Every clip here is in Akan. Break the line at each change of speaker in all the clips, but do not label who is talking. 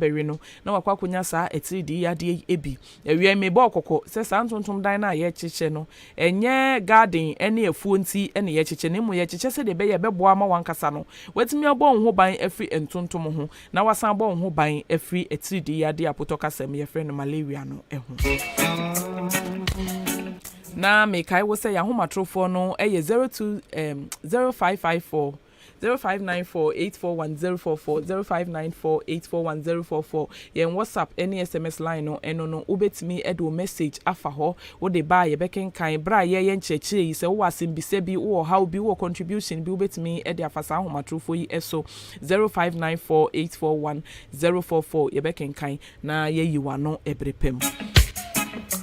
bɛwe no na wakɔ akɔnya saa atiridii yadeɛ yi bi. Awia yi mebɔɔ kɔkɔ sɛ saa ntontom dan no a yɛrekyekyɛ no, ɛnyɛ garden ne afuo nti na yɛrekyekyɛ na mmom yɛrekyekyɛ sɛdeɛ ɛbɛyɛ a ɛbɛboa ama w'ankasa no woatumi abɔ wo ho ban afiri ntontom ho na woasan abɔ wo ho ban afiri atiridii yadeɛ a apotɔ kasa mu yɛfrɛ no malaria no ho. Na mekae wo sɛ yɛn ahomatorofoɔ no yɛ 02 um, 0554 Zero five nine four eight four one zero four four, zero five nine four eight four one zero four four, Yɛn WhatsApp ne SMS line no, ɛno no wobɛtumi de wo message afa hɔ, wode ba a yɛbɛkenkan, berɛ a yɛreyɛ nkyerɛkyerɛ yi, sɛ wowɔ asɛmbisa bi, wowɔ ɔhaw bi, wowɔ contribution bi, wobɛtumi de afa saa ahomatrofoɔ yi so, zero five nine four eight four one zero four four, yɛbɛkenkan. Na yɛyi w'ano ɛbere pa mu.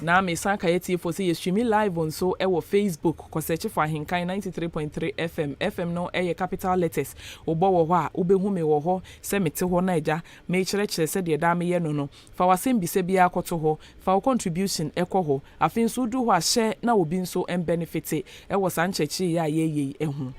Na mesan kae atiefoɔ sɛ yɛstreami live nso wɔ Facebook. Kɔ search for Ahenkan ninety three point three FM. FM no yɛ capital letters. Wobɔ wɔ hɔ a, wobɛhu me wɔ hɔ sɛ mete hɔ na Agya mekyerɛkyerɛ sɛdeɛ daa meyɛ no no. Fa w'asɛm bisa biara kɔto hɔ. Fa wo contribution kɔ hɔ. Afei nso wodu hɔ a, hyɛ na obi nso mbɛnefete wɔ saa nkyerɛkyerɛ yi a yɛreyɛ yi ho.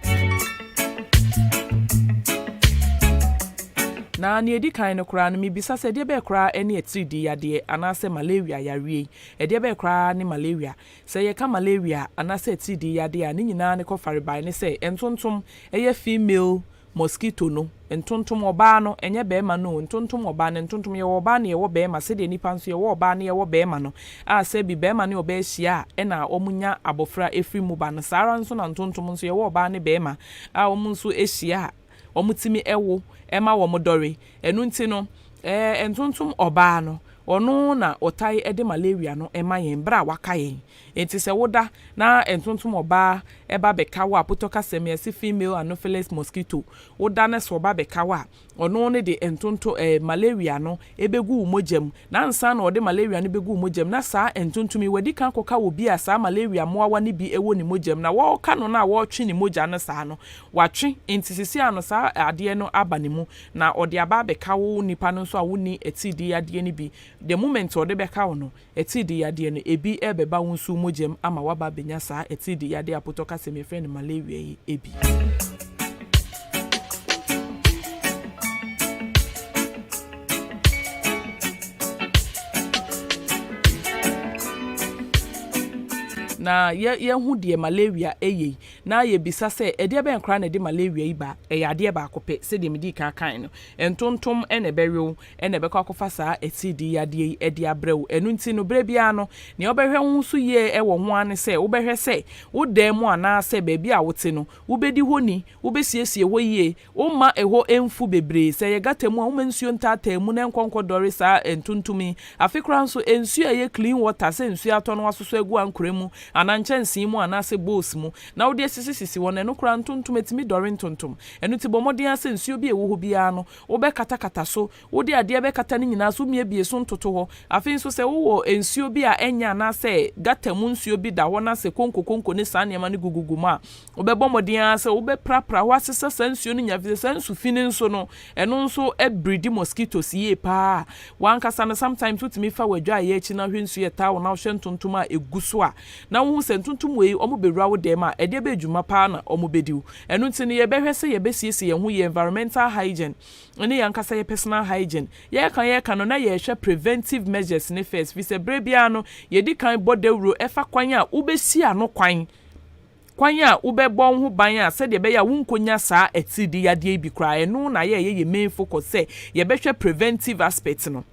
Na nea edi kan no koraa no, mibisa sɛ, Ɛdeɛbɛn koraa ne atiridii yadeɛ anaasɛ malaria yareɛ yi? Ɛdeɛbɛn koraa ne malaria? Sɛ yɛka malaria anaasɛ atiridii yadeɛ a, ne nyinaa ne kɔfarebae ne sɛ, ntontom, ɛyɛ female Mosquito no, ntontom, ɔbaa no, ɛnyɛ barima no o, ntontom, ɔbaa no, ntontom, yɛwɔ ɔbaa na yɛwɔ barima, sɛdeɛ nnipa nso yɛwɔ ɔbaa na yɛwɔ barima no, a sɛ bi barima ne ɔbaa hyia a ɛna wɔnya abɔfra firi mu ba no, saa ara nso na ntontom nso yɛwɔ ɔbaa ne barima a wɔn nso hyia a wɔtumi wo ma wɔn dɔre. Ɛno nti no, ntontom, ɔbaa no, ɔno na wɔtae de malaria no ma yɛn berɛ a wɔaka yɛn Enti sɛ woda na ntontom ɔbaa ba bɛka wo a, put ɔka sɛm yi, ɛse female anopheles mosquito, woda na sɛ ɔba bɛka wo a, ɔno ne de ntonto eh, malaria no bɛgu wo mogya mu. Na ansa na ɔde malaria no bɛgu wo mogya mu na saa ntontom yi wadi kan akɔka obi a saa malaria mmoawa no bi wɔ ne mogya mu na wɔreka no no a wɔretwe ne mogya no saa no, watwe enti seesei ano saa adeɛ no aba ne mu na ɔde aba abɛka wo nipa no nso a wonni atiridii yadeɛ no bi the moment ɔde bɛka wo no, Atiridii yadeɛ no, ebi rebɛba wo nso wo mogya mu ama woaba abɛnya saa atiridii yadeɛ a potɔ kasa mu yɛfrɛ no malaria yi bi. na yɛhu deɛ malaria yɛ yi na yɛbisa sɛ ɛdeɛ bɛn koraa na ɛde malaria yi ba ɛyɛ adeɛ baako pɛ sɛdeɛ medii kan kan no ntontom na ɛbɛwe wo na ɛbɛkɔ akɔfa saa atiridii yadeɛ yi de abrɛ wo. Ɛno nti no, berɛ biara no, nea wobɛhwɛ wo ho so yie wɔ ho ara ne sɛ wobɛhwɛ sɛ wo dan mu anaasɛ baabi a wote no, wobɛdi hɔ ni, wobɛsiesie hɔ yie, womma ɛhɔ mfu bebree. Sɛ ɛyɛ gata mu a, womma nsuo ntaataa mu na ɛnkɔ nkɔdɔre saa ntontom yi. Afe koraa nso, nsuo a ɛyɛ clean water, sɛ nsuo atɔ no woasosɔ agu ankorɛ mu anaa nkyɛnsee mu anaasɛ bowls mu na wode asisisisi hɔ no, ɛno koraa ntontom tumi dɔre ntontom. Ɛno nti bɔ mmɔden ara sɛ nsuo bi a ɛwɔ hɔ biara no, Wobɛkatakata so. Wode adeɛ bɛkata ne nyinaa so, womiabie so ntoto hɔ. Afei nso sɛ wowɔ nsuo bi a ɛnyɛ anaasɛ gata mu nsuo bi da hɔ na sɛ konkokonko ne saa nneɛma no gugugu mu a, wobɛbɔ mmɔden ara sɛ wobɛprapra hɔ asesa saa nsuo no nyinaa efiri sɛ saa nsu fi no nso no, ɛno nso bridi mosquitoes yie pa ara. W'ankasa no, sometimes wotumi fa w'adwaeɛ akyi na wohwɛ nsuo a ɛtaa hɔ na wohwɛ ntontom a ɛgu so a, na wohu sɛ ntontommoa yi wɔbɛwura wo dɛm a, ɛdeɛ bɛn dwuma paa na wɔbɛdi wo? Ɛno nti no, yɛbɛhwɛ sɛ yɛbɛsiesie yɛn ho, yɛn environmental hygiene ne yɛn ankasa yɛn personal hygiene. Yɛreka yɛreka no, na yɛrehwɛ preventive measures no first, firi sɛ berɛ biara no, yɛdi kan bɔ dawuro fa kwan a wobɛsi ano kwan, kwan a wobɛbɔ wo ho ban a sɛdeɛ ɛbɛyɛ a wonkɔnya saa atiridiyadeɛ yi bi koraa. Ɛno na ayɛ a ɛyɛ yɛn main focus sɛ yɛbɛhwɛ preventive aspect no.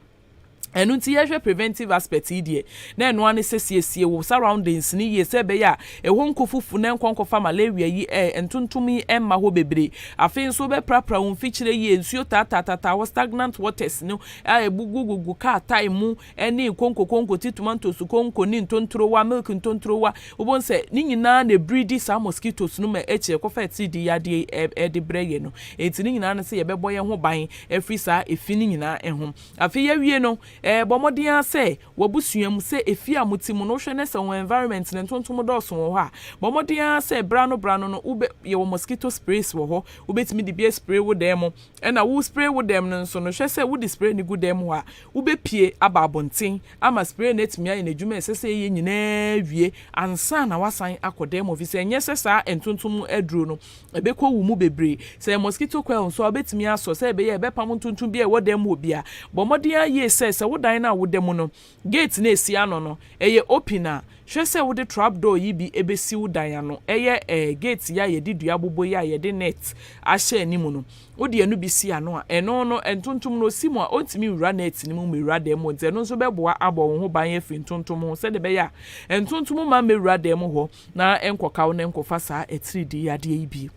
Ɛno nti yɛhwɛ preventive aspect yi deɛ, na ɛno ara ne sɛ siesie wo surroundings no yie sɛ ɛbɛyɛ a ɛhɔ nko fufu na ɛnkɔ nkɔfa malaria yi ɛ, ntontom yi mma hɔ bebree. Afei nso wobɛprapra wo mfikyire yie, nsuo taataataataa hɔ, stagnant waters no a ɛgugugugu kaa tae mu ne konkokonko, tea tomatoes konko ne ntontorowa, milk ntontorowa. Wobɛhu sɛ ne nyinaa na ɛbiridi saa mosquitoes no ma akyire kɔfa atiridiiyadeɛ yi de brɛ yɛn no. Enti ne nyinaa ne sɛ yɛbɛbɔ yɛn ho ban firi saa efi no nyinaa ho. Afei awie no, bɔ mmɔden ara sɛ w'abusua mu, sɛ efie a mote mu no, wohwɛ na sɛ wɔn environment no ntontom dɔɔso wɔ hɔ a, bɔ mmɔden ara sɛ bere ano bere ano no wobɛ, yɛwɔ mosquito sprays wɔ hɔ, wobɛtumi de bi aspray wo dan mu. Ɛna wo spray wo dan mu no nso no, hwɛ sɛ wode spray no gu dan mu hɔ a, wobɛpue aba abɔnten ama spray no atumi ayɛ n'adwuma a ɛsɛ sɛ ɛyɛ nyinaa awie ansa na woasan akɔ dan mu, ɛfiri sɛ ɛnyɛ sɛ saa ntontom aduro no ɛbɛkɔwu mu bebree. Sɛ ɛyɛ mosquito coil nso a, wobɛtumi asɔ sɛdeɛ ɛbɛyɛ a ɛbɛpamo ntontom biara a ɛwɔ dan mu hɔ biara. Bɔ mmɔden ara yie sɛ, sɛ wo dan no a woda mu no, gate no a ɛsi ano no, ɛyɛ open a, hwɛ sɛ wode trap door yi bi bɛsi wo dan ano. Ɛyɛ eh, gate yi a yɛde dua abobɔ yi a yɛde net ahyɛ anim no, wode ɛno bi si ano a, ɛno no, ntontom no, ɔsi mu a, ɔntumi nwura net no mu mmɛwura dan mu hɔ nti, ɛno nso bɛboa abɔ wo ho ban afiri ntontom ho sɛdeɛ ɛbɛyɛ a, ntontom mma mmɛwura dan mu hɔ. na ɛnkɔka wo na ɛnkɔfa saa atiridii yadeɛ yi bio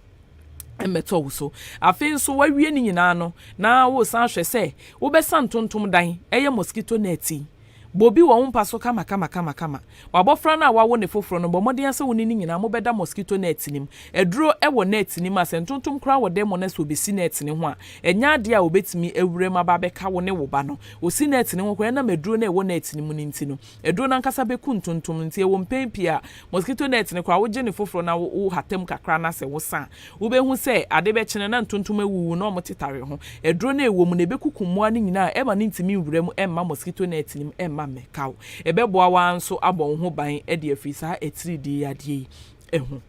mmɛtɔ wo so. Afei nso woawie ne nyinaa no na woresan ahwɛ sɛ wobɛsa ntontom dan, ɛyɛ mosquito net yi, bɔ bi wɔ wo mpa so kamakamakamakama. W'abɔfra no a woawo ne foforɔ no, bɔ mmɔden ara sɛ wo ne no nyinaa mobɛda mosquito net no mu. Aduro wɔ net no mu a sɛ ntontom koraa wɔ dan mu na sɛ ɔbɛsi net no ho a, ɛnyɛ adeɛ a ɔbɛtumi awura mu aba abɛka wo ne wo ba no. Ɔsi net no ho koraa a, ɛnam aduro no a ɛwɔ net no mu no nti no, Aduro no ankasa bɛku ntontom no, nti ɛwɔ mpɛn pii a mosquito net no koraa wogye no foforɔ na wohata mu kakra na sɛ wosa a, wobɛhu sɛ ade bɛkye no na ntontom awuwu na wɔtetare ho. Aduro no a ɛwɔ mu no, ɛbɛkuku mmoa no nyinaa a ɛremma no ntumi nwura mu mma mosquito net no mu mma mmɛka wo. Ɛbɛboa wo ara nso abɔ wo ho ban de afiri saa atiridii yadeɛ yi ho.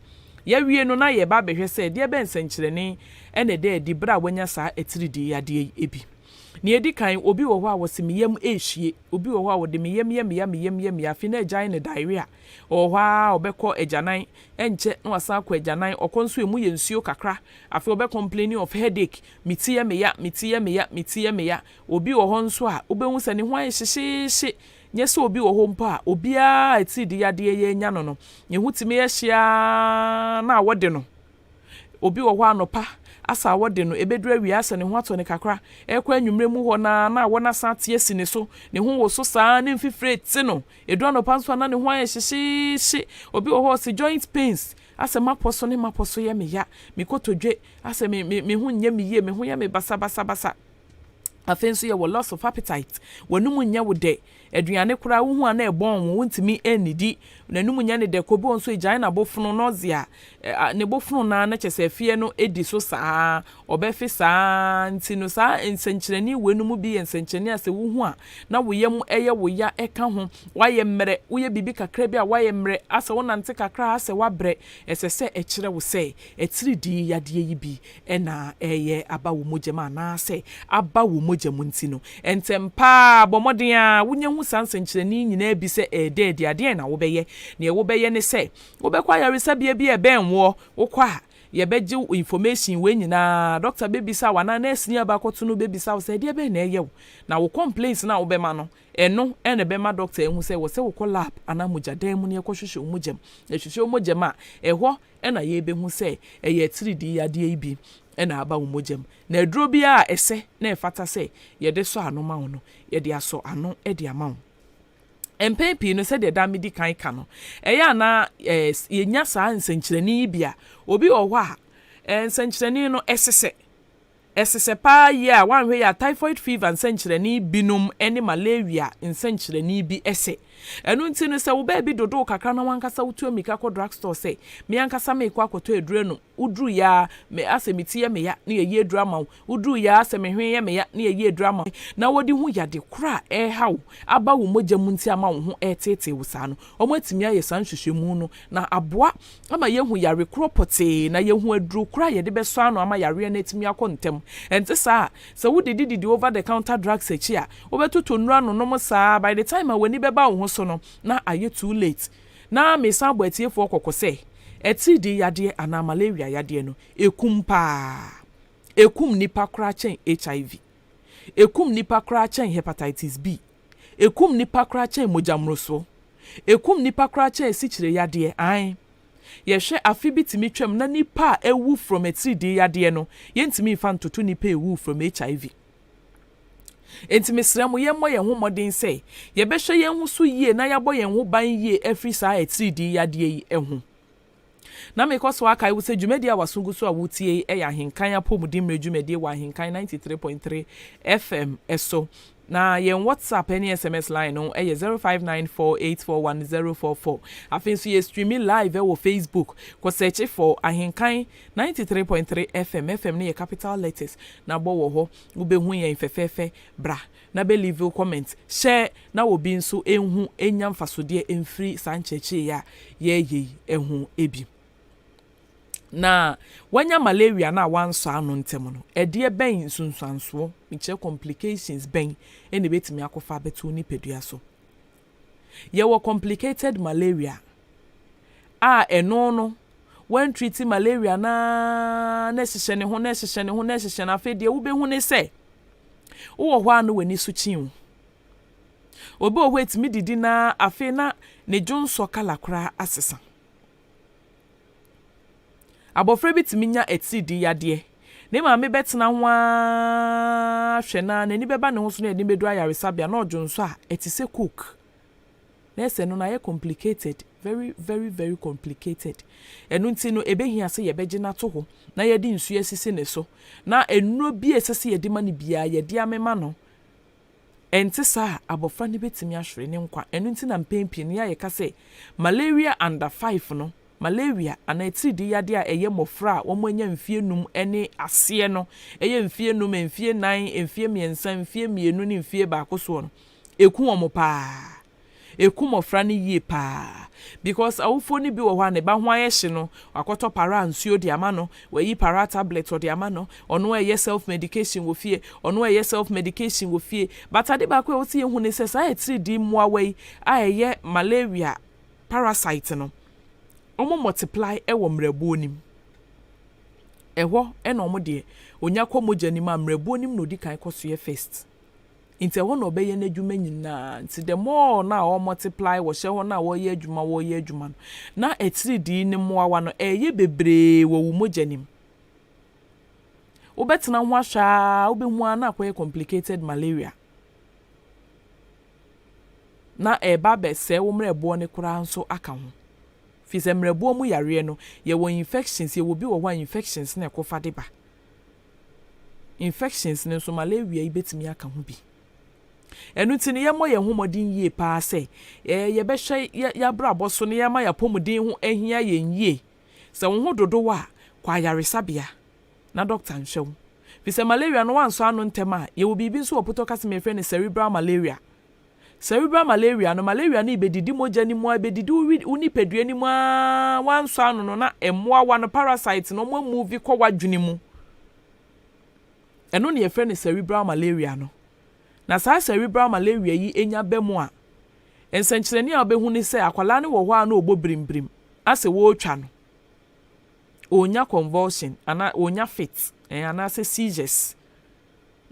Yɛawie no na yɛreba abɛhwɛ sɛ deɛ bɛn nsɛnkyerɛnne na ɛda adi berɛ a woanya saa atiridii yadeɛ yi bi. Deɛ ɛdi kan, obi wɔ hɔ a wɔse me yam rehye. Obi wɔ hɔ a ɔde meyam yam yam yam yam yam afei na agyae no diarrhea. Ɔwɔ hɔ ara a ɔbɛkɔ agyanan, ɛnkyɛ na wasan akɔ agyanan. Ɔkɔ nso emu yɛ nsuo kakra. Afei ɔbɛ complain of headache, me ti yɛ me ya, me ti yɛ me ya, me ti yɛ me ya. Obi wɔ hɔ nso a wobɛhu sɛ ne ho ayɛ hyehyeehye. Nyɛ sɛ obi wɔ hɔ mpo a obiara a atiridii yadeɛ yɛ anya no no, ne ho tumi yɛ hye ara na wɔde no Obi wɔ hɔ a anɔpa asa a wɔde no, ɛbɛduru awia asa ne ho atɔ no kakra, ɛrekɔ anwummerɛ mu hɔ no ara na awɔ no asan ate asi ne so, ne ho woso saa ara, ne mfifire rete no. Ɛduru anɔpa nso a na ne ho ayɛ hyehyeehye. Obi wɔ hɔ a ɔse, Joint pains, asɛ m'apɔ so ne m'apɔ so yɛ me ya, me kotodwe, asɛ me, me, me ho nyɛ me yie, me ho yɛ me basabasabasa. Afei nso yɛwɔ loss of appetite, w'anum nyɛ wo dɛ, aduane koraa wohu a na ɛbɔn wo, wontumi nnidi, n'anum nyɛ no dɛ, kɔ bi wɔ hɔ nso egyae n'abofono, nausea, ne bofono no ara na kyerɛ sɛ afeɛ no di so saa, ɔbɛfe saa ara nti no saa nsɛnkyerɛnne wei no mu bi yɛ nsɛnkyerɛnne a sɛ wohu a na wo yam yɛ wo ya ɛka ho, woayɛ mmerɛ, woyɛ biribi kakra bi a woayɛ mmerɛ, asɛ wonante kakra a asɛ woabrɛ, ɛsɛ sɛ ɛkyerɛ wo sɛ atiridii yadeɛ yi bi na ɛreyɛ aba wo mogya mu anaasɛ aba wo mogya mu nti no, ntɛm pa ara bɔ mmɔden ara wunya hu saa nsɛnkyerɛnne yi nyinaa bi sɛ ɛreda adi. Adeɛn na wobɛyɛ? Neɛ wobɛyɛ ne sɛ wobɛkɔ ayaresabea bi a ɛbɛn woɔ. Wokɔ a, yɛbɛgye wo information wei nyinaa, dɔkta bɛbisa wo anaa nɛɛse ni a bɛakɔto no bɛbisa wo sɛ ɛdeɛ bɛn na ɛreyɛ wo. Na wo complaints no a wobɛma no, ɛno na ɛbɛma dɔkta ahu sɛ ɛwɔ sɛ wokɔ lab anaa mogyadan mu na yɛkɔhwehwɛ wo mogya mu. Yɛhwehwɛ wo mogya mu a, ɛhɔ na yɛbɛhu sɛ ɛyɛ atiridii yadeɛ yi bi na aba wo mogya mu. Na aduro biara a ɛsɛ na ɛfata sɛ yɛde sɔ ano ma wo no, yɛde asɔ ano de ama wo. Mpɛn pii no, sɛdeɛ daa medi kan ka no, ɛyɛ a na yɛnya saa nsɛnkyerɛnne yi bi a, obi wɔ hɔ a, nsɛnkyerɛnne no, ɛsesɛ. Ɛsesɛ paa yie a woanhwɛ yie a typhoid fever nsɛnkyerɛnne binom ne malaria nsɛnkyerɛnne bi sɛ. Ɛno nti no sɛ wo baabi dodoo kakra na wankasa wotu ammirika kɔ drug store sɛ, me ankasa meekɔ akɔtɔ aduru anom, woduru yɛ ara me asɛ me ti yɛ me ya na yɛyi aduru ama wo, woduru yɛ ara sɛ me hwene yɛ me ya na yɛyi aduru ama wo, na wɔde hu yade korɔ a ɛreha wo aba wo mogya mu nti ama wo ho reteetee wo saa no, wɔatumi ayɛ saa nhwehwɛmu no na aboa ama yɛahu yare korɔ pɔtee na yɛahu aduro korɔ a yɛde bɛsɔ ano ama yareɛ no atumi akɔ ntɛm. Ɛnte saa a, sɛ wodidi didi over the counter drugs akyi a, wobɛtotɔ nnuro anonom saa by the time a w'ani bɛba wo ho so no, na ayɛ too late. Na mesan bɔ atiefoɔ kɔkɔ sɛ, atiridii yadeɛ anaa malaria yadeɛ no, ɛkum pa ara. Ɛkum nnipa koraa kyɛn HIV. Ɛkum nnipa koraa kyɛn Hepatitis B. Ɛkum nnipa koraa kyɛn mogyammorosoɔ. Ɛkum nnipa koraa kyɛn sikyireyadeɛ. Aane. Yɛhwɛ, afe bi tumi twam na nnipa a awu from atiridii yadeɛ no, yɛntumi mfa ntoto nnipa a ɛwuu from HIV. Enti mesrɛ mo, yɛmmɔ yɛn ho mmɔden sɛ yɛbɛhwɛ yɛn ho so yie na yɛabɔ yɛn ho ban yie afiri saa atiridii yadeɛ yi ho. Na mekɔ so akae wo sɛ dwumadi a w'aso gu so a wutie yi yɛ Ahenkan Apɔwmuden Mmere dwumadi wɔ Ahenkan ninety three point three FM so. Na yɛn WhatsApp ne SMS line no yɛ zero five nine four eight four one zero four four. Afei nso yɛ streami live wɔ Facebook. Kɔ sɛɛkye fɔ Ahenkan ninety three point three FM. FM no yɛ capital letters na bɔ wɔ hɔ. Wubehu yɛn fɛfɛɛfɛ. Bra Na bɛ leave comment hyɛ na obi nso nhu nya mfasodeɛ mfiri saa nkyerɛkyerɛ yi a yɛɛyɛ yi ho bi. Na wanya malaria no a wansɔ ano ntɛm no, ɛdeɛ bɛn nsunsuansoɔ, mekyerɛ complications bɛn na ɛbɛtumi akɔfa abɛto wo nipadua so? Yɛwɔ complicated malaria a ɛno no wɔantriti malaria no ara na ɛhyehyɛ ne ho na ɛhyehyɛ ne ho na ɛhyehyɛ no afei deɛ wobɛhu ne sɛ wowɔ hɔ a na w'ani so kyi wo. Obi wɔ hɔ ɛtumi didi na afei na ne dwonsɔ kala koraa asesa. Abofra bi tumi nya atiridii yadeɛ. Ne maame bɛtena ho ara hwɛ no ara, n'ani bɛba ne ho so na yɛde no bɛduru ayaresabea na ɔdwo nsɔ a, ɛte sɛ coke. Nɛɛse, ɛno no ayɛ complicated, very very very complicated. Ɛno nti no, ɛbɛhia sɛ yɛbɛgye no ato hɔ na yɛde nsuo asisi ne so, na nnuro bi a ɛsɛ sɛ yɛde ma no biara, yɛde amema no. Ɛnte saa a, abofra no betumi ahwere ne nkwa. Ɛno nti na mpɛn pii no, yɛa yɛka sɛ malaria under five no, malaria anaa atiridii yadeɛ a ɛyɛ mmofra a wɔanya mfeɛ num ne aseɛ no, ɛyɛ mfeɛ num, mfeɛ nan, mfeɛ mmiɛnsa, mfeɛ mmienu ne mfeɛ baako soɔ no, ɛku wɔn paa. Ɛku mmɔfra no yie pa ara because awofoɔ no bi wɔ hɔ a ne ba ho ayɛ hye no, wakɔtɔ paraa nsuo de ama no, wayi paraa tablet ɔde ama no, ɔno ɛreyɛ self medication wɔ fie, ɔno ɛreyɛ self medication wɔ fie. But ade baako a ɛwɔ sɛ yɛhu ne sɛ saa atiridii mmoawa yi a ɛyɛ malaria parasite no, wɔn multiply wɔ mmerɛboɔ no mu. Ɛhɔ na wɔn deɛ, ɔnya kɔ mogya no mu a mmerɛboɔ no mu na ɔdi kan kɔ soɛ first. Ntsi ɛhɔ na ɔbɛyɛ n'edwuma nyina. Ntsi the more no a ɔwɔ multiply, wɔhyɛ hɔ no a wɔyɛ edwuma, wɔyɛ edwuma no, na etsiridii no mboawa no reyɛ beberee wɔ wo mogya no mu. Wobɛtsena ho ahwɛ ara a, wobohu ara na akɔyɛ complicated malaria, na ereba abɛsɛɛ wo mberɛboɔ no koraa so aka ho. Firi sɛ mberɛboɔ mu yareɛ no, yɛwɔ infections, yɛwɔ bi wɔ hɔ a infections na ɛkɔfa de ba. infections no nso, malaria yi bɛtumi aka ho bi. Ɛno nti no, yɛmmɔ yɛn ho mmɔden yie pa ara sɛ yɛbɛhwɛ yɛn abrabɔ so na yɛama yɛn apɔmuden ho ahia yɛn yie. Sɛ wo ho dodo wo a, kɔ ayaresabea na dɔkta nhwɛ wo. Ɛfiri sɛ malaria no, woansɔ ano ntɛm a, yɛwɔ biribi nso wɔ pɔtɔkasa mu a yɛfrɛ no cerebral malaria. Cerebral malaria no, malaria no rebedidi mogya no mu ara, ebedidi wo wo nipadua no mu ara, woansɔ ano no na mmoawa no, parasites no, wɔamuvi kɔ w'adwene mu. Ɛno na yɛfrɛ no cerebral malaria no. Na saa cerebral malaria yi nya ba mu a, nsɛnkyerɛnne a wobɛhu ne sɛ akwadaa no wɔ hɔ ara na ɔbɔ birimbirim, asɛ wɔretwa no. ɔrenya convulsion anaa ɔrenya fit anaasɛ seizures.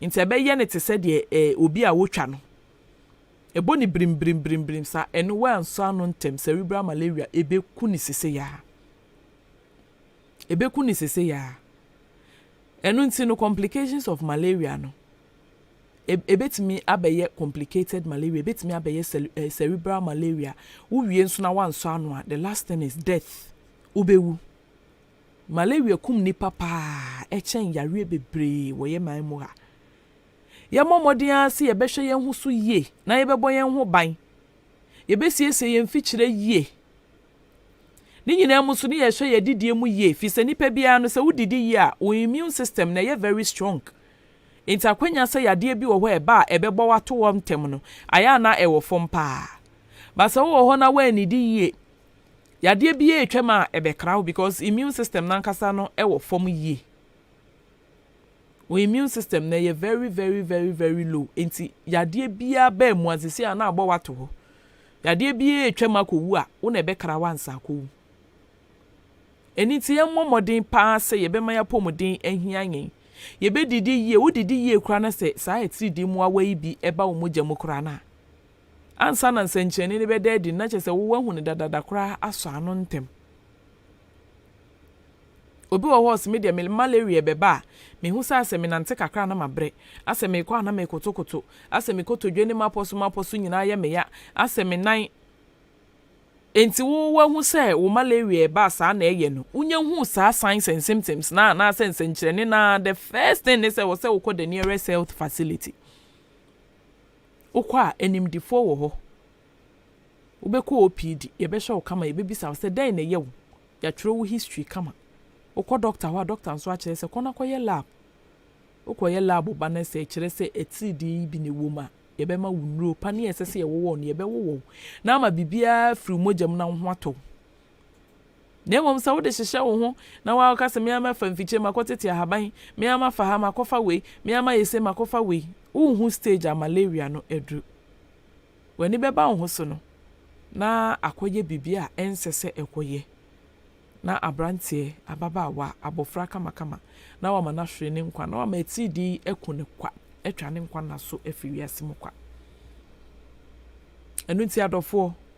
Nti ɛbɛyɛ no te sɛ deɛ obi a wɔtwa no. Ɛbɔ no birimbirimbirim saa. Ɛno woansɔ ano ntɛm, cerebral malaria ɛbɛku no sesei ara. Ɛbɛku no sesei ara. Ɛno nti no complications of malaria no, ɛbɛtumi abɛyɛ complicated malaria, ɛbɛtumi abɛyɛ cerebral malaria. Wowie nso na woansɔ ano a, the last thing is death. Wobewu. Malaria kum nnipa paa ɛkyɛn yareɛ bebree wɔ yɛ man mu ha. Yɛmmɔ mmɔden ara sɛ yɛbɛhwɛ yɛn ho so yie na yɛbɛbɔ yɛn ho ban. Yɛbɛsiesie yɛn mfikyire yie. Ne nyinaa mu nso ne yɛhwɛ yɛn adidie mu yie firi sɛ nnipa biara no sɛ wodidi yie a wo immune system no ɛyɛ very strong. Nti akwanya sɛ yadeɛ bi wɔ hɔ a ɛba a ɛbɛbɔ wo ato hɔ ntɛm no ayɛ a na ɛwɔ fam paa. But sɛ wowɔ hɔ na woannidi yie, Yadeɛ biara ɛtwa mu a ɛbɛkra wo because immune system no ankasa no ɛwɔ fam yie. Wo immune system no ɛyɛ very very very very low nti yadeɛ biara baa mu a sisi a na abɔ wo ato hɔ. Yadeɛ biara ɛtwa mu akɔ wu a wo na ɛbɛkra wo ansa akɔ wu. Ɛno nti yɛn mmɔ mmɔden paa sɛ yɛbɛma yɛn apɔmuden ahia yɛn. Yɛbɛdidi yie, wo didi yie koraa na sɛ saa atiridii mmoawa yi bi ɛba wo mogya mu koraa no a, Ansa na nsɛnkyerɛnne no bɛda adi no, na kyerɛ sɛ woahu no dadaada koraa asɔ ano ntɛm. Obi wɔ hɔ a ɔse, Me deɛ me malaria bɛba a, mehu sɛ asɛ menante kakra a na mabrɛ, asɛ mekɔ a na mekotokoto, asɛ me kotodwe ne m'apɔ so m'apɔ so nyinaa yɛ me ya, asɛ me nan. Enti wo woahu sɛ wo malaria reba a saa na ɛyɛ no? Wonya huu saa signs and symptoms no a, anaasɛ nsɛnkyerɛnne no a, the first thing ne sɛ ɛwɔ sɛ wokɔ the nearest health facility. Wokɔ a, animdefoɔ wɔ hɔ. Wobɛkɔ OPD, yɛbɛhwɛ wo kama, yɛbɛbisa wo sɛ dɛn na ɛyɛ wo, yɛatwerɛ wo history kama. Wokɔ dɔkta hɔ a, dɔkta nso akyerɛ sɛ kɔ na kɔyɛ lab. Wokɔyɛ lab ba no, sɛ ɛkyerɛ sɛ atiridii bi na ɛwɔ mu a, yɛbɛma wo nnuro pa ne a ɛsɛ sɛ yɛwowɔ wo no, yɛbɛwowɔ wo na ama biribiara afiri wo mogya mu na wo ho atɔ wo. Na mmom sɛ wode hyehyɛ wo ho na woaka sɛ, 'Me ara mɛfa mfikyire, makɔtete ahaban, me ara mafa ha, makɔfa wei, me ara mayɛ sei, makɔfa wei. Worenhu stage a malaria no aduru. W'ani bɛba wo ho so no, na akɔyɛ biribi a ɛnsɛ sɛ ɛkɔyɛ, na aberanteɛ, ababaawa, abɔfra kamakama, na wama no ahwere ne nkwa, na wama atiridii aku no kwa, atwa ne nkwa nna so afiri wiase mu kwa. Ɛno nti adɔfoɔ,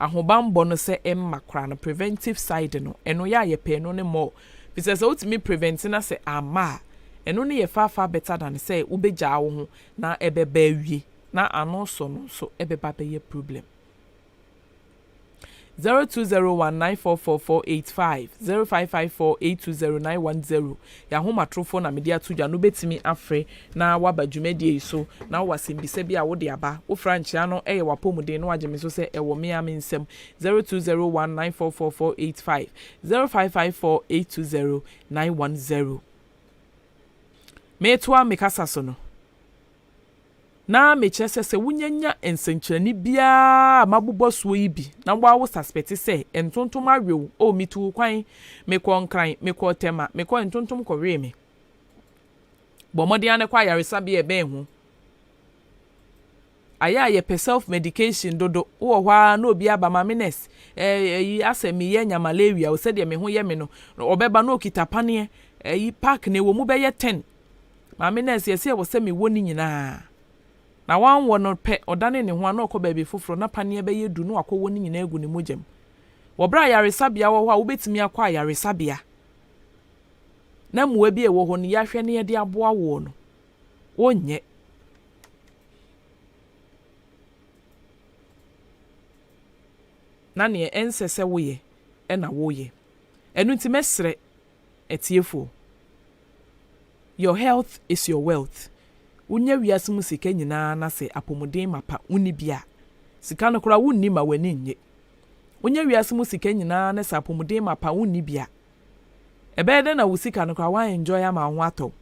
ahobanbɔ no sɛ ɛmma koraa no preventive side no ɛno yɛ a yɛpɛ ɛno no more firi sɛ sɛ wotumi prevent na sɛ amma a ɛno no yɛ far far better than sɛ wobɛgyaa wo ho na ɛbɛba awie na ano sɔ no nso ɛbɛba abɛyɛ problem. Zero two zero one nine four four four eight five zero five five four eight two zero nine one zero Yɛ ahomatrofoɔ na mede ato dwa no bɛtumi afrɛ na waba dwumadie yi so na wowɔ asɛmbisa bi a wode aba. Wofrɛ a nkyea no yɛ w'apɔmuden na wagye me so sɛ ɛwɔ me ara me nsam. Zero two zero one nine four four four eight five zero five five four eight two zero nine one zero. Meretoa me kasa so no. na mekyerɛ sɛ sɛ wonyanya nsɛnkyerɛnne biara a mabobɔ soɔ yi bi na woawo saspɛte sɛ ntontom awe wo, oh, metuu kwan, mekɔɔ Nkran, mekɔɔ Tema, mekɔɔ ntontom kɔwee me. Bɔ mmɔden ara na kɔ ayaresabea a ɛbɛn ho. Ayɛ a yɛpɛ self medication dodo, wowɔ hɔ ara na obi aba maame nurse, eh, ayi asɛ meyɛ anya malaria o, sɛdeɛ me ho yɛ me no, ɔbɛba na okita paneɛ, ayi pack na ɛwɔ mu bɛyɛ ten, Maame nurse yɛ sɛ ɛwɔ sɛ mewɔ ne nyinaa. Na wanwɔ no pɛ, ɔdanee ne ho a na ɔkɔ baabi foforɔ, na paneɛ bɛyɛ du na wakɔwɔ ne nyinaa agu ne mogya mu. Wɔ berɛ a ayaresabea wɔ hɔ a wobɛtumi akɔ ayaresabea na mmoa bi a ɛwɔ hɔ no yɛahwɛ na yɛde aboa woɔ no, wonyɛ. Na neɛ ɛnsɛ sɛ woyɛ na woyɛ. Ɛno nti mɛsrɛ. Atiefo, Your health is your wealth, Wunya wiase mu sika nyinaa na sɛ apɔmuden mapa wunni bi a, sika no koraa wunni mma w'ani nnye. Wunya wiase mu sika nyinaa na sɛ apɔmuden mapa wunni bi a, ɛbɛyɛ dɛn na wo sika no koraa woan enjoy ama wo ho atɔ wo?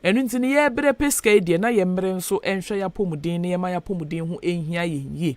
Ɛno nti no yɛbrɛ pɛ sika yi deɛ na yɛmmere nso nhwɛ y'apɔmuden na yɛmma y'apɔmuden ho nhia yɛn yie.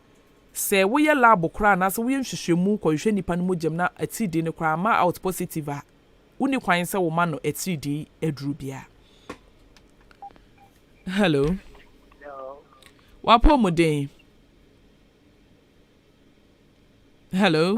Sɛ woyɛ lab koraa anaasɛ woyɛ nhwehwɛmu kɔhwehwɛ nnipa no mogyam na atiridii no koraa amma out positive a, wonni kwan sɛ woma no atiridii aduru biara. Hello.
W'apɔmuden.
Hello.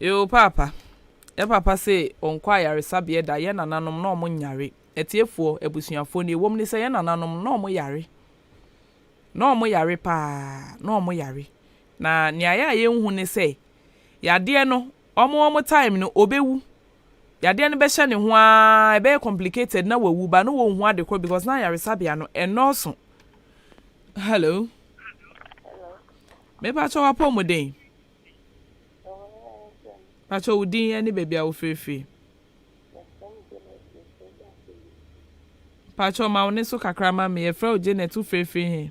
Yoo paapa, yɛ papa se ɔnkɔ ayaresabeɛ da, yɛ nananom na ɔmo nyare, atiefoɔ, abusuafoɔ nea ɛwom ne sɛ yɛ nananom na ɔmo yare, na ɔmo yare paa, na ɔmo yare, na nea ɛyɛ a yɛnhu ne sɛ yadeɛ no Wɔn wɔn time no ɔbɛwu. Yadeɛ no bɛhyɛ ne ho ara, ɛbɛyɛ complicated na wawu but na wɔnhu ade korɔ because na ayaresabea no ɛnnɔɔso. Hello. Mepakyɛ w'apɔmuden. Pakyɛ wo din ɛne baabi a wofirifiri. Pakyɛ ma wo ne so kakra ma me, yɛfrɛ wo Janet, wofirifiri he?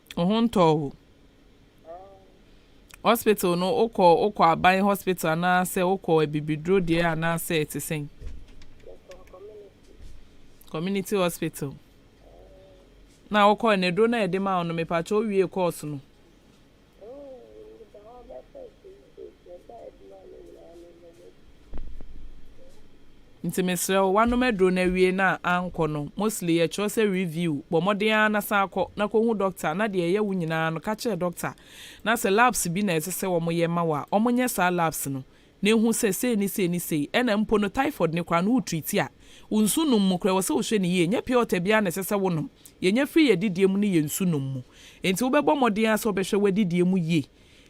Wo ho ntɔɔ wo? Hospital no wokɔ wokɔ aban hospital anaasɛ wokɔ abibiduro deɛ anaasɛ ɛte sɛn? Community hospital. Na wokɔ ne duro na ɛde ma wo no mepakyɛ wowie kɔɔso no. Nkyerɛsɛ adwuma no nyinaa ne mmɔ mu adi. Nti mesrɛ wo wanom aduro no awie no a ankɔ no mostly yɛ kyerɛ sɛ review bɔ mmɔden ara na san kɔ na kɔ hu doctor na deɛ ɛyɛ wo nyinaa no ka kyerɛ doctor na sɛ labs bi na ɛsɛ sɛ wɔn yɛ ma wo a wɔn nyɛ saa labs no na ehu sɛ sei ne sei ne sei ɛna mpo no typhoid no koraa no wo treat a wo nsu nom mu koraa ɛwɔ sɛ wo hwɛ no yie nyɛ pure water biara na ɛsɛ sɛ wo nom yɛ nya firi yɛ adidie mu ne yɛ nsu nom mu nti wo bɛ bɔ mmɔden ara sɛ wo bɛ hwɛ wo adidie mu yie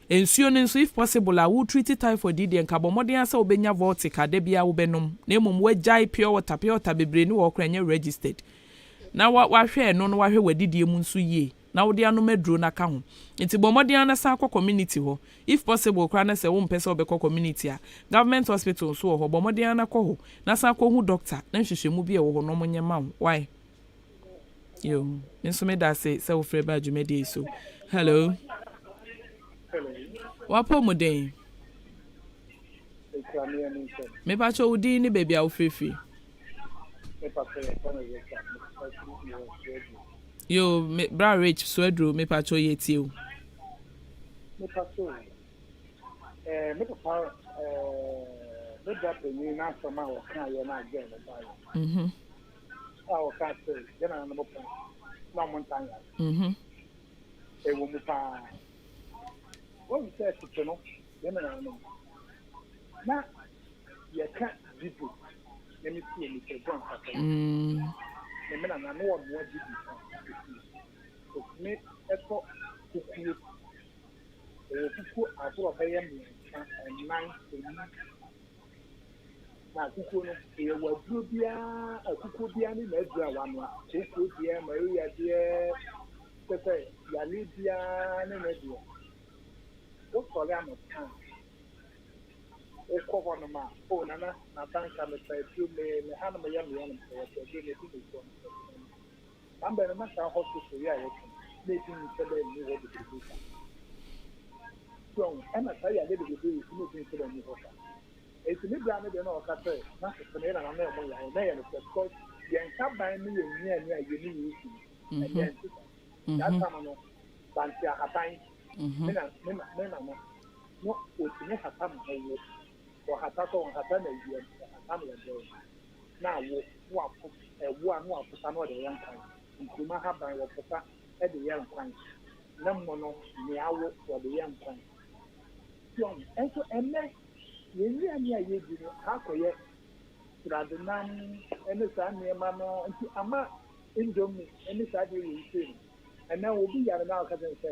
Nsuo no nso, if possible a, wo treati typhoid yi deɛ nka bɔ mmɔden ara sɛ wo bɛnya Voltic a da biara wo bɛnom na mmom w'agyae pure water, pure water bebree ne wɔ hɔ koraa ɛnyɛ registered, na wa wahwɛ ɛno no wahwɛ w'adidie mu nso yie na wode anom aduro no aka ho. Nti bɔ mmɔden ara na san kɔ community hɔ, if possible koraa na sɛ wo mpɛ sɛ wo bɛkɔ community a, government hospital nso wɔ hɔ, bɔ mmɔden ara na kɔ hɔ na san kɔ hu doctor na nhwehwɛmu bi a ɛwɔ hɔ no wɔn nyɛ ma wo, wai? Yo, me nso meda ase sɛ wofrɛ baa dwumadie yi so. Hello. W'apɔmuden. Mepakyɛ wo din ne baabi a wofirifiri. Yo, me bra Rich Suaduro mepakyɛ yɛ tie o. Mepakyɛ o. Eh,
me papa eh, me bra panyin n'asɛm a wɔka yɛ no agye no baeɛ. Mhm. a ɔka sɛ yɛn nananom pon na ɔmo ntaa yare. Mm-hmm. Ɛwɔ mu paa. Wɔn sɛ tete no yɛn nananom na yɛka dibu na me si ɛmi sɛ gɔn kasa. Mm. Na me nana no ɔnoa dibu ka ɛsi. Ɛtumi ɛtɔ kukuo. Ɛwɔ kukuo ahorow bɛyɛ mmiɛnsa, ɛnan, ɛnum. Na akukuo no, ɛyɛ w'aburoo biara, akukuo biara ne n'aburoo a wanoa, kooko deɛ, Maria deɛ, kyerɛ sɛ yale biara ne ne deɛ. Wosɔre anɔpa a, wokɔ hɔnom a, oh Nana, m'abanka, mepɛ aduro, me, me hanom yɛ me yanom, sɛ yɛpɛ aduro no, yɛdi no aduane, yɛpɛ aduro no, yɛdi no aduane. Saa bere no na saa hostel so yea a wɔto no na edi nsɛ dɛ nni hɔ bebrebe sa. So ahu? Ɛna saa yade bebrebe wɔ so na edi nsɛ dɛ nni hɔ sa. Enti me bra no deɛ na ɔka sɛ na sese no yɛ na n'ano ɛmo yare. Na ɛyɛ nokorɛ because yɛn haban no yɛ nnuane a yɛni wɔ ocean mu. Ɛnɛ ɛnte saa. Saa tam no Banteahaban, me na, me na, me nana no otumi hatam ho wo. Wɔhata sɛ wɔhata no awia mu, wɔhata no ɔdɔ mu, na awo na wɔafo ɛwo a na wɔafota na wɔde ayɛ nkwan, nkuruma ahaban wɔfota de yɛ nkwan, na mmono ne awo wɔde yɛ nkwan. Sion. Nso ɛnnɛ, yɛn nnuane a yedi no akɔyɛ sradenam ne saa nneɛma no nti ama indomie ne saa adeɛ wei sei no, ɛnɛ obi yare na ɔka kyerɛ no sɛ,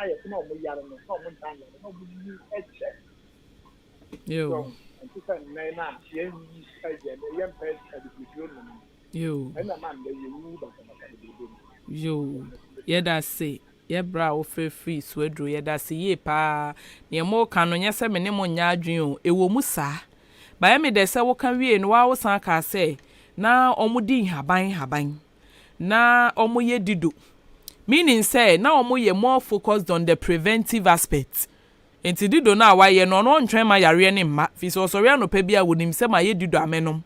ayɛ sɛ na wɔn yare no na wɔn ntaa
nyare na wɔn nim kyɛ so ɛnte
sɛ nnɛ no a yɛn wi ɛyɛ no yɛn pɛ adibiduro nom no ɛna ɛma
nnɛ yɛ
wu basabasa
bebrebe no. Yoo yɛdase yɛ bra a wofrɛ firi suaduro yɛdase yie paa neɛ mo ka no nyɛ sɛ me ne mo nyɛ adwene o ɛwɔ mu saa bayɛ me dɛ sɛ woka wiee no waa wosan kaa sɛ na wɔn di nhaban nhaban Na wɔyɛ dido, meaning sɛ na wɔyɛ more focused on the preventive aspect. Enti dido no a wɔayɛ no, ɔno ɔntwɛn ma yareɛ no mma, firi sɛ ɔsɔre anɔpa biara a, ɔnim sɛ mayɛ dido a mɛnom.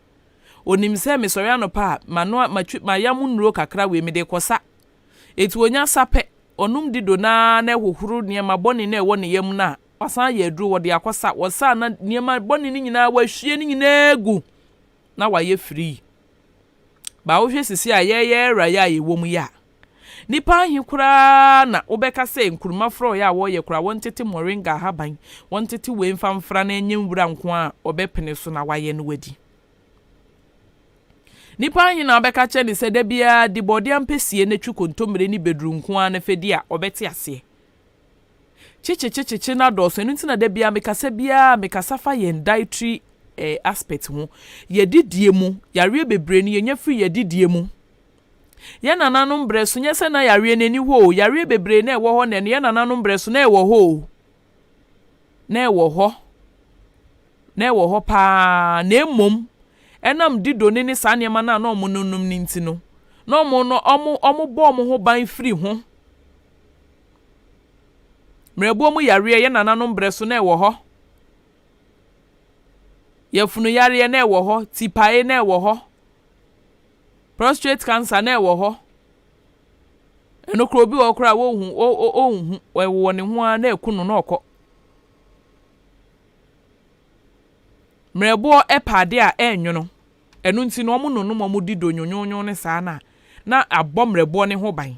Ɔnim sɛ mesɔre anɔpa a, manoa, matwi, mayam nnuro kakra wei, mede rekɔ sa. Enti ɔnya sa pɛ, ɔnom dido no ara na ɛhohoro nneɛma bɔne no a ɛwɔ ne yam no a, wasan ayɛ aduro, ɔde akɔ sa. Ɔsa a, na nneɛma bɔne no nyinaa, wahwie ne nyinaa agu, na wayɛ free. Ba wohwɛ sisi a yɛyɛ era yi a yɛwɔ mu yi a, nnipa ahe koraa na wobɛka sɛ nkuruma frɔeɛ a wɔyɛ koraa, wɔntete moringa ahaban, wɔntete wei mfa mfra na ɛnyɛ nwura nko ara a wɔbɛpene so na wɔayɛ na wɔadi? Nnipa ahe na wobɛka kyerɛ no sɛ da biara di borɔde ampesie na twi kontommire ne bɛduru nko ara na fa di a ɔbɛte aseɛ? Kyekyekyekyekye no adɔɔso, ɛno nti na da biara me kasa biara me kasa fa yɛn dietary eh, aspect ho. Yɛdidie mu, yareɛ bebree no yɛnya firi yɛdidie mu. Yɛn nananom berɛ so, nyɛ sɛ na yareɛ no ani hɔ o, yareɛ bebree na ɛwɔ hɔ na ɛno yɛn nananom berɛ so na ɛwɔ hɔ o. Na ɛwɔ hɔ, na ɛwɔ hɔ paa, na mmom ɛnam dido ne ne saa nneɛma no a na wɔnom nom no nti no, na wɔn no wɔn wɔbɔ wɔn ho ban firi ho. Mmerɛboɔ mu yareɛ, yɛn nananom berɛ so na ɛwɔ hɔ. Yafunu yareɛ na ɛwɔ hɔ, tipae na ɛwɔ hɔ, prostrate cancer na ɛwɔ hɔ. Ɛno koraa obi wɔ hɔ koraa a wɔnhu o o ɔnhu ɛwɔ ne ho ara na ɛku no na ɔkɔ. Mmerɛboɔ pɛ ade a ɛnwono, ɛno nti na wɔnonom wɔn di donwonwonwo no saa no a na abɔ mmerɛboɔ no ho ban.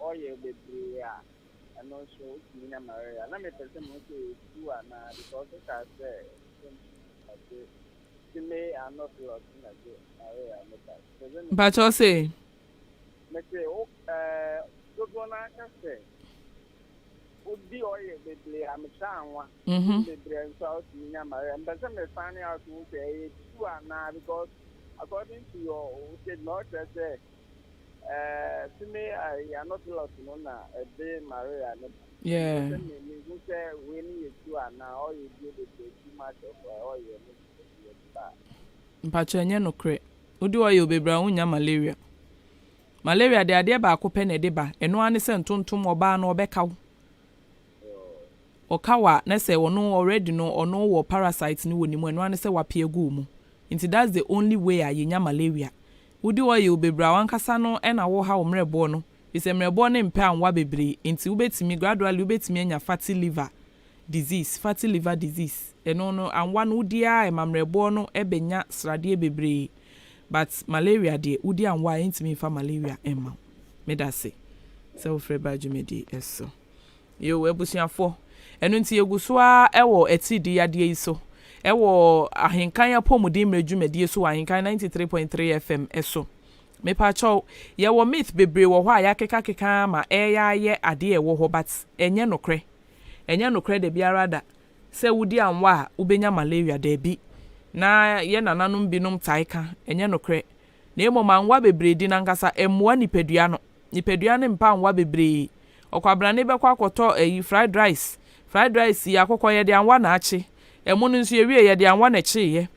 oil bebree a ɛno nso wotumi nya malaria na mepɛ sɛ mo sɛ ɛtu anaa because wokaa sɛ ɛsɛ mu na gye sime ano blot na gye malaria no ba mepɛ sɛ mpakyɛw se
mese
wo ɛɛ dodoɔ no aka sɛ wodi oil bebree a mekyɛ anwa mhm bebree nso a wotumi nya malaria mepɛ sɛ me find out ho sɛ ɛyɛ tu anaa because according to your statement ɔkyerɛ sɛ Eh, to me I you are not lost no na ɛde Maria ne ba. Yeah. Ɛsɛ
me me hu sɛ
wei ne yɛ tu a na ɔyɛ die bebree too much of ɔyɛ ne yɛ
ba. Mpakyɛ ɛnyɛ nokorɛ. Wode ɔyɛ obebra a wonnya malaria. Malaria deɛ adeɛ baako pɛ na ɛde ba. Ɛno ara ne sɛ ntontom ɔbaa no ɔbɛka wo. Ɔka wo a na sɛ ɔno already no ɔno wɔ parasite no wɔ ne mu ɛno ara ne sɛ wapia gu wo mu. Nti that's the only way a yɛnya malaria. Wode ɔyew bebree a w'ankasa no na woreha wo mmerɛboɔ no, firi sɛ mmerɛboɔ no mpɛ anwa bebree, enti wobɛtumi, gradually wobɛtumi anya fatty liver disease, fatty liver disease, ɛno no anwa no wodi ara ɛma mmerɛboɔ no bɛnya sradeɛ bebree, but malaria deɛ wodi anwa a ɛntumi mfa malaria mma wo. Medase sɛ wofrɛ baa dwumadie so. Yiw, abusuafo. Ɛno nti yegu so ara wɔ atiridii yadeɛ yi so wɔ Ahenkan Apɔmuden-Mmerɛ Dwumadie so wɔ Ahenkan ninety three point three FM so. Mepakyɛw, yɛwɔ myth bebree wɔ hɔ a yɛakekakeka ara ma ɛreyɛ ara yɛ adeɛ a ɛwɔ hɔ but ɛnyɛ nokorɛ. Ɛnyɛ nokorɛ da biara da sɛ wodi anwa a wobɛnya malaria, daabi. Na yɛn nananom binom tae ka, ɛnyɛ nokorɛ. Na mmom anwa bebree di no ankasa ɛmmoa nipadua no. Nipadua no mpa anwa bebree. Ɔkwabrane bɛkɔ akɔtɔ ɛyi fried rice. Fried rice yi akokɔ yɛde anwa na akye. Ɛmo no nso yɛwie yɛde anwa na ɛkyeeɛ.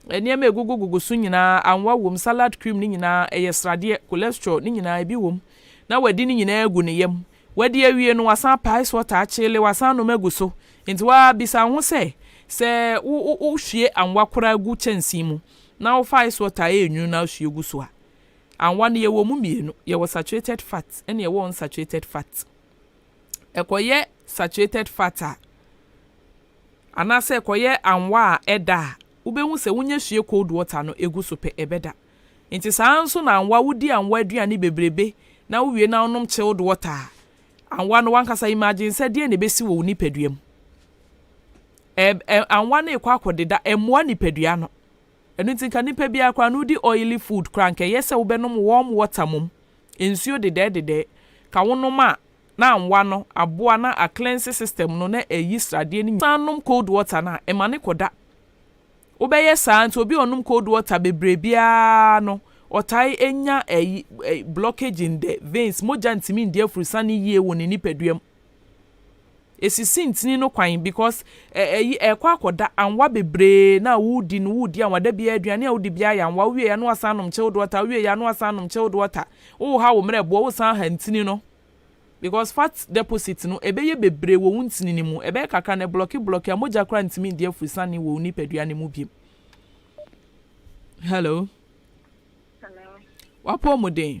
Nneɛma a ɛgugu gugu so nyinaa anwa wom. Salad cream no nyinaa ɛyɛ sradeɛ, cholesterol, ne nyinaa ebi wom. Na wadi ne nyinaa agu ne yam. Wadi awie no wasan apa ice water akyeele wasan anom agu so. Enti wabisa wo ho sɛ, sɛ wo wo hwie anwa koraa gu kyɛnsee mu na wofa ice water a ɛyɛ nwunu na wohwie gu so a, Anwa no yɛwɔ ɔmu mmienu, yɛwɔ saturated fat ɛna yɛwɔ unsaturated fat. Ɛkɔyɛ saturated fat a, anaasɛ ɛkɔyɛ anwa a ɛda a, wobɛhu sɛ wonya sue cold water no ɛgu so pɛ ɛbɛda. Nti saa nso na anwa, wodi anwa aduane bebrebe na wowie na wonom chilled water a, anwa no wankasa imagine sɛ deɛn na ɛbɛsi wɔ wo nipadua mu. Ɛ, ɛ, anwa no rekɔ akɔdeda, ɛmmoa nipadua no. Ɛno nti nka nipa biara koraa no wodi oily food koraa nka ɛyɛ sɛ wobɛnom warm water mom nsuo dedɛɛ dedɛɛ ka wonom a na anwa no aboa na a cleanse system no na ɛyi sradeɛ no nyinaa san nom cold water no a ɛmane kɔda wobɛyɛ saa nti obi a ɔnom cold water bebree biara no ɔtae nya ɛyi blockage in the veins mogya ntumi ndi afurusane yie wɔ ne nipadua mu. Esisi ntini no kwan because ɛ ɛyi ɛkɔ akɔda anwa bebree na awodi no wodi anwa da biara aduane a wodi biara yɛ anwa wowie ya no wasan nom chilled water wowie ya no wasan nom chilled water wo ha wo mmerɛboɔ wo san ha ntini no because fat deposit no ɛbɛyɛ bebree wɔ wo ntini no mu ɛbɛyɛ kakra no ɛblɔki blɔki a mogya koraa ntumi ndi afurisane wɔ wo nipadua no mu biom Hello Hello. W'apɔmuden.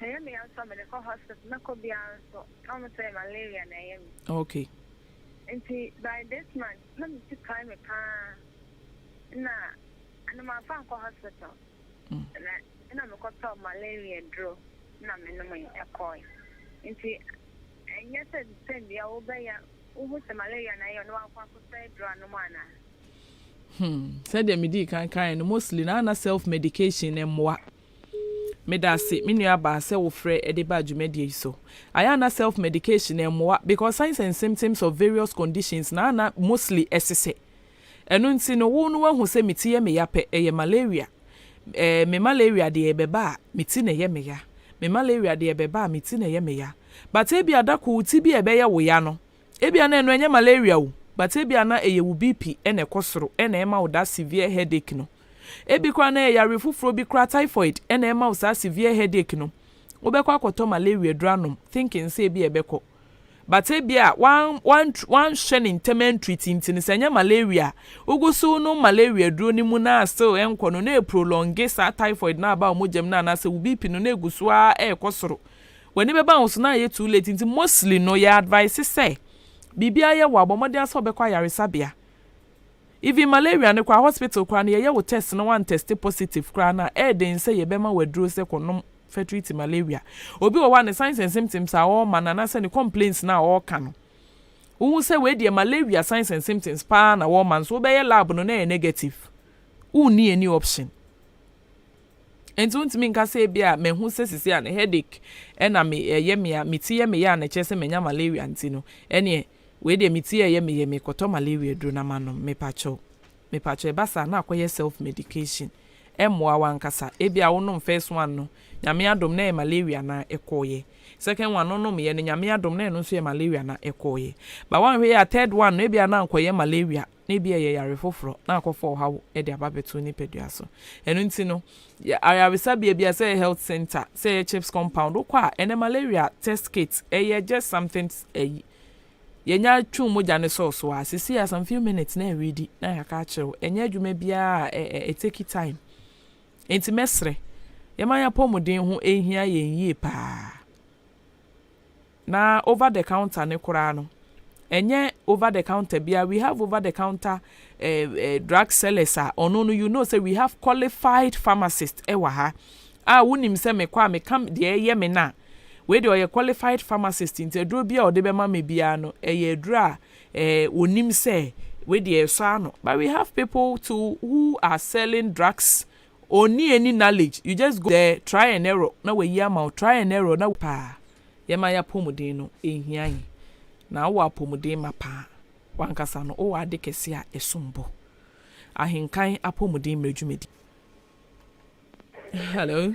Ɛyɛ me ya nso a mede kɔ hospital mɛkɔ biara nso na wɔn sɛ malaria na ɛyɛ me. Okay.
Nti
by this month na me ti pae me paa na ɛna manfa ankɔ hospital na ɛna mekɔ tɔɔ malaria duro na me nomee ɛkɔɔe. Nti ɛnyɛ sɛ the same bia wo bɛ ya wo hu sɛ malaria na ɛyɛ wo na wakɔ akɔ sɛe duro anom anaa. Hmm sɛdeɛ me
dii kan kaeɛ no mostly na na self medication mmoa. Meda ase me nua baa sɛ wo frɛ de baa dwumadie yi so. Ayɛ a na self medication ɛmmoa because signs and symptoms of various conditions na na mostly ɛsesɛ. Ɛno nti no wo no wahu sɛ me ti yɛ meya pɛ ɛyɛ malaria. Ɛɛ me malaria deɛ ɛbɛba a me ti na ɛyɛ meya. Me malaria deɛ ɛbɛba a me ti na ɛyɛ meya. But ebia da koro ti bi a ɛbɛyɛ wo ya no ebia na ɛno ɛnyɛ malaria o but ebia na ɛyɛ wo BP na ɛkɔ soro na ɛma wo that severe headache no. Ebi koraa na ɛyɛ yareɛ foforɔ bi koraa, typhoid, na ɛma wo saa severe headache no. Wobɛkɔ akɔtɔ malaria aduro anom thinking sɛ ebia ɛbɛkɔ. But ebia woan woan woanhwɛ no ntɛm antreat nti no, sɛ ɛnyɛ malaria a, wogu so wonom malaria aduro no mu na still ɛnkɔ no na ɛprolonge saa typhoid no aba wo mogya mu no anaasɛ wo BP no na ɛgu so ara ɛrekɔ soro. W'ani bɛba wo so na ayɛ too late nti mostly no yɛ advise sɛ biribiara yɛ wo a, bɔ mmɔden ara sɛ wobɛkɔ ayaresabea. Even malaria no koraa hospital koraa no yɛyɛ wo test na wan test positive koraa no a ɛɛden sɛ yɛbɛma wo aduro sɛ kɔ nom fɛ treat malaria. Obi wɔ hɔ a ne signs and symptoms a ɔɔma no anaasɛ ne complaints no a ɔɔka no wo hu sɛ wei deɛ malaria signs and symptoms paa na wɔɔma no so wo bɛyɛ lab no na ɛyɛ negative wo nni any option. Enti wontumi nka sɛ ebia mahu sɛ sisi a no headache na me ɛyɛ me a me ti yɛ me yɛ a na ɛkyerɛ sɛ manya malaria nti no ɛneɛ wei deɛ me ti ɛyɛ me yɛ mekɔtɔ malaria aduro na manom mepakyɛw mepakyɛw ɛba saa na akɔyɛ self medication ɛmmoa wankasa ebia wonom first one no Nyame adom na ɛyɛ malaria na ɛkɔɔyɛ second one no nomyɛ no Nyame adom na ɛno nso yɛ malaria na ɛkɔɔyɛ ba wanhwɛ yɛ a third one no ebia na ankɔyɛ malaria na ebia ɛyɛ yare foforo, na akɔfa ɔhaw de aba abɛto wo nipadua so. Ɛno nti no, yɛ ayaresabea biara, sɛ ɛyɛ health center, sɛ ɛyɛ CHPS compound, wokɔ a, ɛnnɛ malaria test kit, ɛyɛ just something ayi. Yɛnya twe mogya no sɔɔ so a, seesei a some few minutes na ɛredi na yɛaka akyerɛ wo. Ɛnyɛ adwuma biara a ɛ ɛ ɛtake time. Enti mɛsrɛ, yɛma yɛn apɔmuden ho nhia yɛn yie paa. Na over the counter no koraa no, ɛnyɛ over the counter biara, we have over the counter drug sellers a ɔno no you know sɛ we have qualified pharmacist wɔ ha a wonim sɛ mekɔ a meka deɛ ɛyɛ me no a, wei deɛ ɔyɛ qualified pharmacist nti aduro bi a ɔde bɛma me biara no ɛyɛ aduro a ɔnim sɛ wei deɛ ɛsɔ ano. But we have people too who are selling drugs Onni any knowledge you just go there try and error na wayi ama wo try and error na wayi paa yɛma yɛ apɔmuden no ɛnhia yɛn na wowɔ apɔmuden ma paa wankasa no wowɔ ade kɛse a ɛsom bo ahenkan apɔmuden mmerɛ dwumadi hello.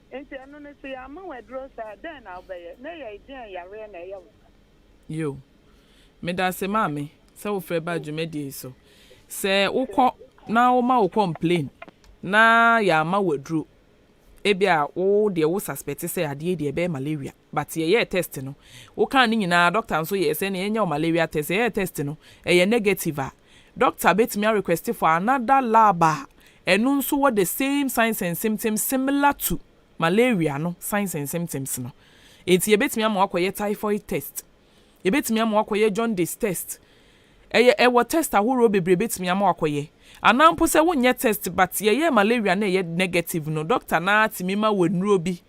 Enti ɛno no, sɛ yɛamma wo aduro saa a, dɛn na wobɛyɛ?
Na ɛyɛe deɛn yareɛ na ɛyɛ wo saa? Yo. Medase maame sɛ wofrɛ baa dwumadie yi so. Sɛ wokɔ na woma wo complain na yɛamma wo aduro, ebia wo deɛ wo suspect sɛ adeɛ yi deɛ ɛbɛyɛ malaria. But yɛyɛɛ test no, wo kaa ne nyinaa doctor nso yɛɛ sɛ nea yɛnyɛ wo malaria test, yɛyɛɛ test no ɛyɛ negative a, doctor bɛtumi a request for another lab a ɛno nso wɔ the same signs and symptoms similar to malaria no signs and symptoms no. Enti yɛbɛtumi ama wo akɔyɛ typhoid test, yɛbɛtumi ama wo akɔyɛ jaundice test, ɛyɛ ɛwɔ test ahoroɔ bebree bɛtumi ama wo akɔyɛ. Anaa mpo sɛ wonyɛ test but yɛyɛɛ malaria na ɛyɛ negative no, doctor no ara tumi ma wo nnuro bi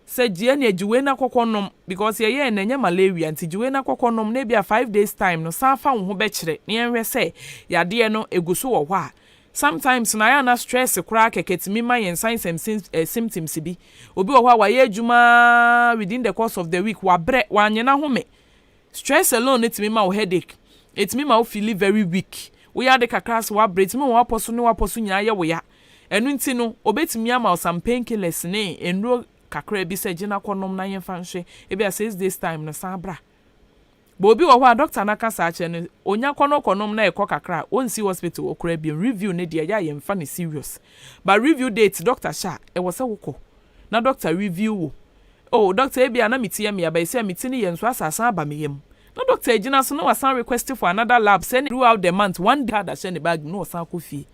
sɛ gyeɛ neɛ gye wei na kɔkɔ nom because yɛyɛɛ no ɛnyɛ malaria nti gye wei na kɔkɔ nom na ebia five days time no san fa wo ho bɛkyerɛ na yɛnhwɛ sɛ yadeɛ no ɛgu so wɔ hɔ a sometimes no ayɛ a na stress koraa kɛkɛ tumi ma yɛn signs and symptoms bi obi wɔ hɔ a wayɛ adwuma ara within the course of the week wabrɛ wanyɛ n'ahome Stress alone no tumi ma wo headache, ɛtumi ma wo feeli very weak, woyɛ ade kakra a so woabrɛ, ɛtumi ma w'apɔ so ne w'apɔ so nyinaa yɛ wo ya. Ɛno nti no, wɔbɛtumi ama wo some pain killers ne nnuro kakra bi sɛ gye na kɔnom na yɛmfa nhwɛ, ebia six days time no san bra. But obi wɔ hɔ a doctor no aka saa akyerɛ no, ɔnya kɔ na ɔkɔnom na ɛkɔ kakra a, ɔnsi hospital hɔ koraa bio. Review no deɛ ɛyɛ a yɛmfa no serious. But review date doctor hyɛ a, ɛwɔ sɛ wokɔ. Na doctor review wo Oh doctor ebi a na me ti yɛ me ya but seɛ me ti no yɛ nso asa asan aba me yam Na doctor agyina so na wasan request for another lab sɛ ne throughout the month one day card ahyɛ ne bag mu na ɔsan akɔ fie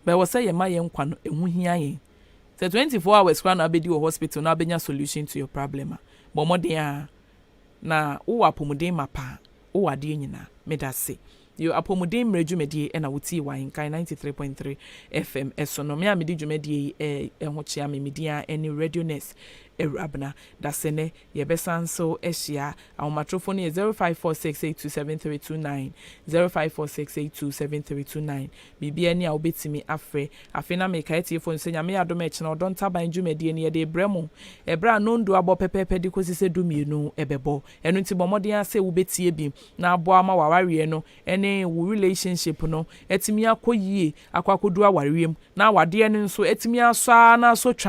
But ɛwɔ sɛ yɛma yɛn nkwa no ɛho hia yɛn Sɛ twenty four hours koraa na wabɛdi wɔ hospital na wabɛnya solution to your problem a bɔ mmɔden ara na wowɔ apɔmuden mapa a. Wowɔ adeɛ nyinaa. Medase. Yo, Apomuden Mmerɛ Dwumadie na wo tie wɔ Ahenkan ninety three point three FM so no. Me a mede dwumadie yi ho kyea me, me din ara ne Radio Nurse Awurabena. Dase nɛ yɛ bɛ san nso ahyia. Ahomatrofo no yɛ zero five four six eight two seven three two nine, zero five four six eight two seven three two nine. Biribiara ni a wobɛtumi afrɛ. Afei na meka atiefo no sɛ Nyame yɛ adom a ɛkyena Ɔdɔ Ntaban dwumadie no yɛde rebrɛ mo ɛberɛ a nnɔndu abɔ pɛpɛɛpɛ de kɔsi sɛ du mmienu bɛbɔ. Ɛno nti bɔ mmɔden ara sɛ wobɛtie bi na aboa ma w'awareɛ no ne wo relationship no atumi akɔ yie akɔ akɔduru awareɛ mu na awadeɛ no nso atumi asɔ ara na asɔ twa.